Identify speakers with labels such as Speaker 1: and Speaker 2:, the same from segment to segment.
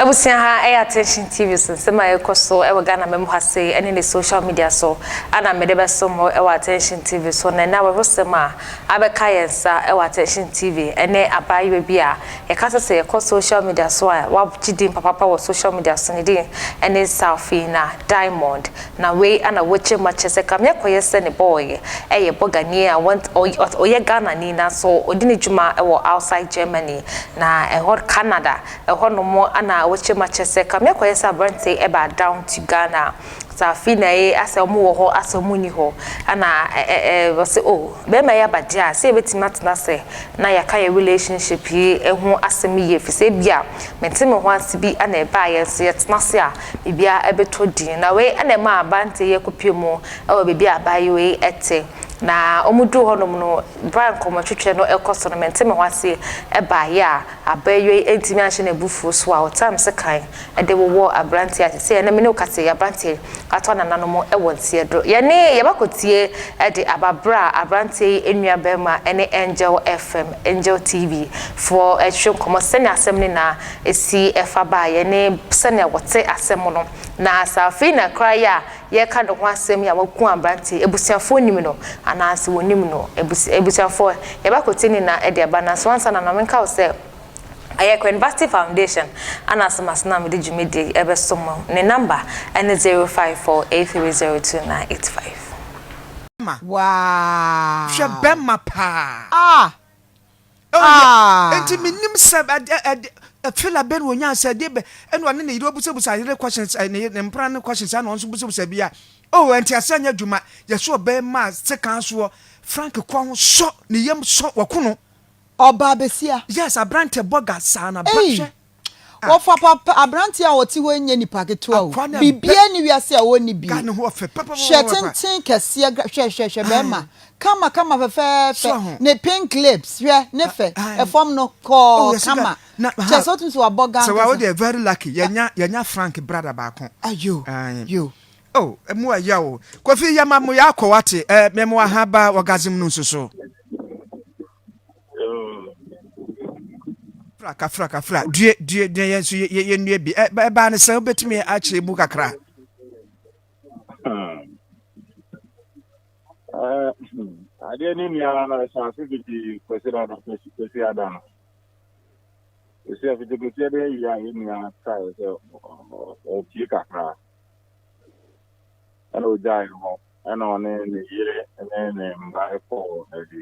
Speaker 1: abusua ha ɛyɛ attention tv so nsɛm a ɛkɔ so ɛwɔ ghana mɛmu ha se ɛne ne social media so ana mede bɛso mo ɛwɔ attention tv so na ɛna wɔwosɛm a abɛka yɛn nsa ɛwɔ attention tv ɛne abaayewa bi a yɛka sɛ sɛ yɛkɔ social media so a wagye din papapa wɔ social media so ne din ɛne salfina diamond Na wei ana wogye ma kyɛ sɛ kame akɔyɛ sɛ ne bɔ ɔyɛ ɛyɛ bɔ ganie a wɔn ɔyɛ Ghanani nanso ɔdi ne dwuma ɛwɔ outside Germany na ɛhɔ Canada ɛhɔ nom ana wogye ma kyɛ sɛ kame akɔyɛ sɛ abrante ɛbaa down to Ghana saa afei na ɛyɛ asɛ ɔmo wɔ hɔ asɛ ɔmo nni hɔ ɛna ɛɛ wɔse oh bɛɛma yi aba deɛ a sɛ yɛbɛtumi atena asɛ na yɛaka yɛ relationship yi ho asɛm yie fisɛ ebia mente me ho ase bi ana ɛbaa yɛn nso yɛtena ase a biribiara ɛbetɔ din. Na wei na ɛmaa Abante yɛ kɔpie mu wɔ baabi a abaayewa yi te. Na wɔn duu hɔ nom no, berɛ a nkɔmmɔtwetwe no rekɔ so no, Mente-Me-Ho-Ase baeɛ a abaayewa yi antumi anhyɛ n'abufuo so a ɔtenaa me sekan de wowɔɔ aberanteɛ a seesei ɛnnɛ me ne wo kasa yi, aberanteɛ ato anananom wɔ nteɛ do. Yɛne Yɛbɛkɔtie de aba berɛ a aberanteɛ yi nua barima ne Angel FM, Angel TV, foɔ retwe nkɔmmɔ sɛnea asɛm no nyinaa si fa baeɛ ne sɛnea wɔte asɛm no. Na sɛ afei na kra yi a yɛreka ne ho asɛm yi a waku aberanteɛ yi, abusuafoɔ nim no anaasɛ wɔnnim no? Abus, abusuafoɔ, yɛbɛkwati ne nna de aba. Nanso ansa na ma menka wo sɛ, ɛyɛ Queen Vashti Foundation na asɛm ase no a mede dwumadie yi rebɛso mo. Ne nɔmba ne zero five four eight three zero two nine eight five. Bɛma. Waa.
Speaker 2: Hwɛ bɛma paa.
Speaker 3: Ah! Oh, yeah. Ah! Enti menim sɛ ɛde ɛde fela bɛn wɔ nyaa sɛ ɛde bɛ ɛna ɔne ne yere obusabusa yere questions eh, ne ne mpra ne questions ɛna ɔnso busabusa bi a oh ɛnti asɛ nyɛ adwuma yɛsɛ ɔbɛma sekan soɔ Frank kɔ ho sɔ ne yam sɔ wɔkono. Ɔbaa
Speaker 2: besia. Yes abrante bɔga
Speaker 3: saa na bra hwɛ. Wɔfa
Speaker 2: papa, aberanteɛ a ɔte hɔ yi nyɛ nipa ketewa o. Biribiara nni wiase a ɔnni bi. Hwɛ
Speaker 3: tenten kɛseɛ,
Speaker 2: hwɛ, hwɛ, hwɛ bɛrima. Kama, kama fɛfɛɛfɛ. Ne pink lips, hwɛ ne fɛ. Ɛfam no, kɔɔ, kama. Kyerɛ sɛ wotumi sɛ wabɔ gan kɛseɛ. Sɛ wode very lucky,
Speaker 3: yɛnya, yɛnya Frank brother baako. Ayo, yo.
Speaker 2: Oh,
Speaker 3: ɛmu ɛya o. Kofi yɛma mo yɛ akɔ wate, eh, mɛmo ahaba orgasm no nso so. fraka fraka fra due due due yɛn nso yɛnnue bi ɛbaa no sɛ wobɛtumi akyerɛ mu kakra hmm.
Speaker 4: eh, hmm. adeɛ ne nnuara no ɛhyɛ ase fiti kwasi da no kwasi ada no ɛsi afiti kwasi ada awie a yɛ nua kae sɛ ɔpie kakra ɛna ɔgyae hɔ ɛna ɔne ne yere ne ne mma ɛkɔɔ adi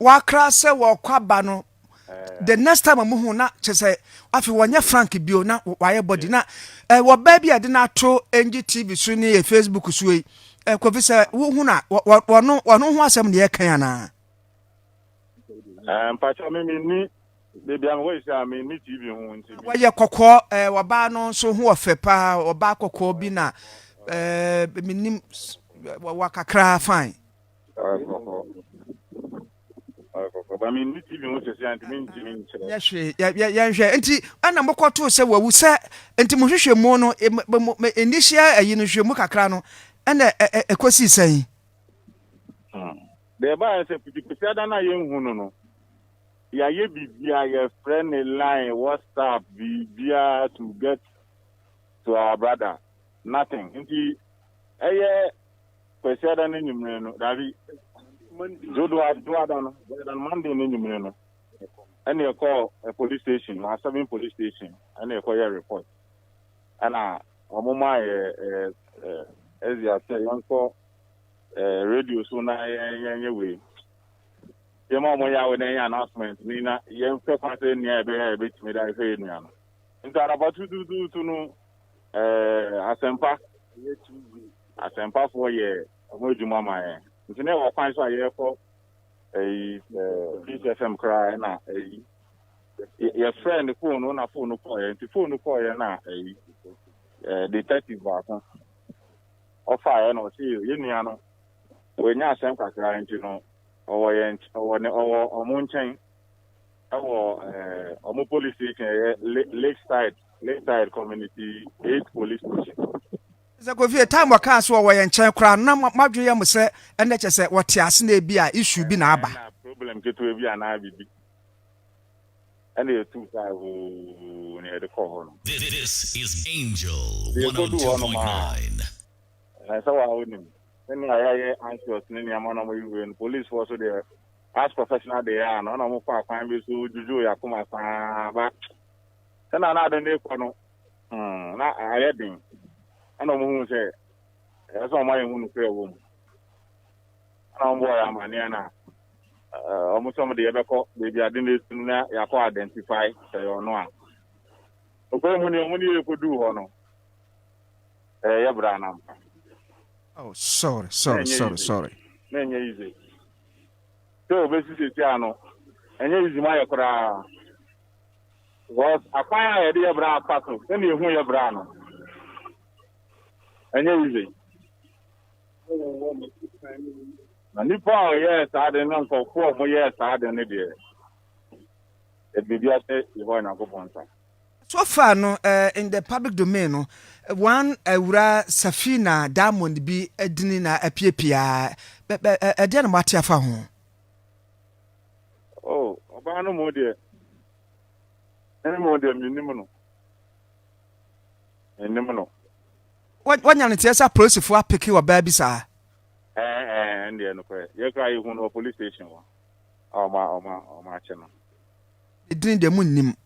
Speaker 4: Wɔakra
Speaker 3: sɛ wɔrekɔ aba no, the next time a wɔhu na kyerɛ sɛ afei wɔnyɛ frank bio na wɔayɛ body na eh, wɔ baabi a yɛde no ato NG TV so ne yɛ Facebook so yi eh, Kofi sɛ wohu na wɔno wɔno ho asɛm na yɛkan anaa? Eh,
Speaker 4: mpakyɛ me menni baabi a mewɔ yi sɛ a menni TV ho nti wɔyɛ kɔkɔɔ eh,
Speaker 3: wɔbaa no nso ho ɔfɛ paa wɔbaa kɔkɔɔ bi na eh, menim wɔwɔ kakra fine
Speaker 4: yɛnhwɛ
Speaker 3: nti ɛna mokɔtoo sɛ wawu sɛ nti mohwehwɛ mu no nnihyia ayi no hwɛ mu kakra no ɛna ɛkɔsii sɛn
Speaker 4: deɛ ɛbaɛ sɛ pitipiti ada no a yɛnhu no no yɛayɛ biribia yɛfrɛ ne line whatsapp biribia to get to our brother nothing nti ɛyɛ Kwasiada no enyimire no, dabi, Dwodoada no, Dwodoada no, Monday no enyimire no, ɛna yɛkɔɔ police station, Maa Seven police station, ɛna yɛkɔyɛɛ report. Ɛna wɔn maa yɛ ɛzia sɛ yɛnkɔ radio so na yɛnyɛ wei. Yɛma wɔn yɛ awɛ na yɛnyɛ announcement ni na yɛnhwɛ kwan sɛ nea yɛbɛyɛ a yɛbɛtumi de ahwɛ yɛn nua no. Nti anapa tutuutuutu no, Ɛɛ, asɛmpa. Ɛyɛ TV. Asɛmpafoɔ yɛ wɔn adwuma ma yɛn. Nti na ɛwɔ kwan so a yɛkɔ ɛyi ɛɛ Peace FM koraa ɛna ɛyi yɛfrɛ ne fon no na fon no kɔɔ yɛn nti fon no kɔɔ yɛn na ɛyi ɛɛ detective baako ɔfa yɛn na ɔsi yɛn nua no wɔnyɛ asɛm kakra nti no ɔwɔ yɛn ɔwɔ ne ɔwɔ wɔn nkyɛn. ɛwɔ ɛɛ wɔn police station ɛyɛ lakeside lakeside community eight police station. sɛ kofi
Speaker 3: time wɔkaa sɛ wɔwɔ yɛn nkyɛn koraa na madwe yɛ mo sɛ ɛnɛ kyɛ sɛ wɔte ase na ebi a issue bi na aba problem ketewa bi
Speaker 4: anaa biribi ɛna yɛtu saa hoo na yɛde kɔɔ hɔ no This is
Speaker 5: Angel 102.9
Speaker 4: ɛsɛ wɔ a wonim sɛnea yɛayɛ anxious ne nneɛma na ɔmɔyɛ wei no policefoɔ so deɛ As professional they are no na wɔn fa akwan bi so dwudwo yɛ akoma saa ba sɛnea na ade no rekɔ no hmm, na ayɛ den ɛna wɔn hu sɛ ɛyɛ sɛ wɔn ayɛ hu nokorɛ wɔ mu ɛna wɔn bɔ yɛ amaneɛ na wɔn sɛ wɔn de yɛbɛkɔ baabi ade no etu no na yɛakɔ identify sɛ yɛ ɔno a ɔkwan mu ni wɔn ne yɛ ekodu hɔ no ɛyɛ bra na mpa.
Speaker 3: Oh, sorry, sorry, sorry, sorry.
Speaker 4: Na ɛnyɛ easy. sɛ obesi sɛsi a no ɛnyɛ easy ma yɛ koraa because akwan a yɛde yɛ bra afa so sɛnea ehu yɛ bra no ɛnyɛ easy na nipa a ɔyɛɛ saa de ne nkɔfoɔ a wɔyɛɛ saa de no deɛ ɛbiribi ahyɛ yɛhɔ nyankopɔn nsa So far
Speaker 3: no in the public domain no wɔn awura Safina Diamond bi adini na apiapia ɛdeɛ na moate afa ho? Oh,
Speaker 4: ɔbaa no mo deɛ ɛne mo deɛ menim no menim no
Speaker 3: wanya no teɛ sɛ apolisifoɔ apeke ɔbaa bi saa ɛndeɛ
Speaker 4: nokorɛ yɛkora yɛhu no wɔ police station hɔ ɔma ɔma ɔma akye no ɛdini
Speaker 3: deɛ monnim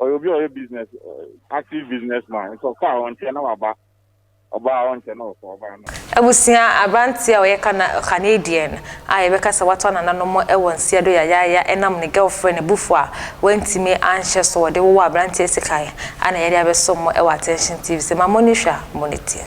Speaker 4: ɔyɛ obi a ɔyɛ business active business man nti ɔkɔ a ɔnkyɛ na waba ɔbaa a ɔnkyɛ na ɔkɔ ɔbaa na. Abusua, Aberanteɛ
Speaker 1: a ɔyɛ Kana, Canadian, a yɛbɛka sɛ watɔ nananom wɔ nseɛ do yayaaya ɛnam ne girlfriend abufuo a wantumi anhyɛ so ɔde wowɔ aberanteɛ sekan a na yɛde abɛsom mo wɔ Attention TV sɛ ma moni hwɛ a moni tie.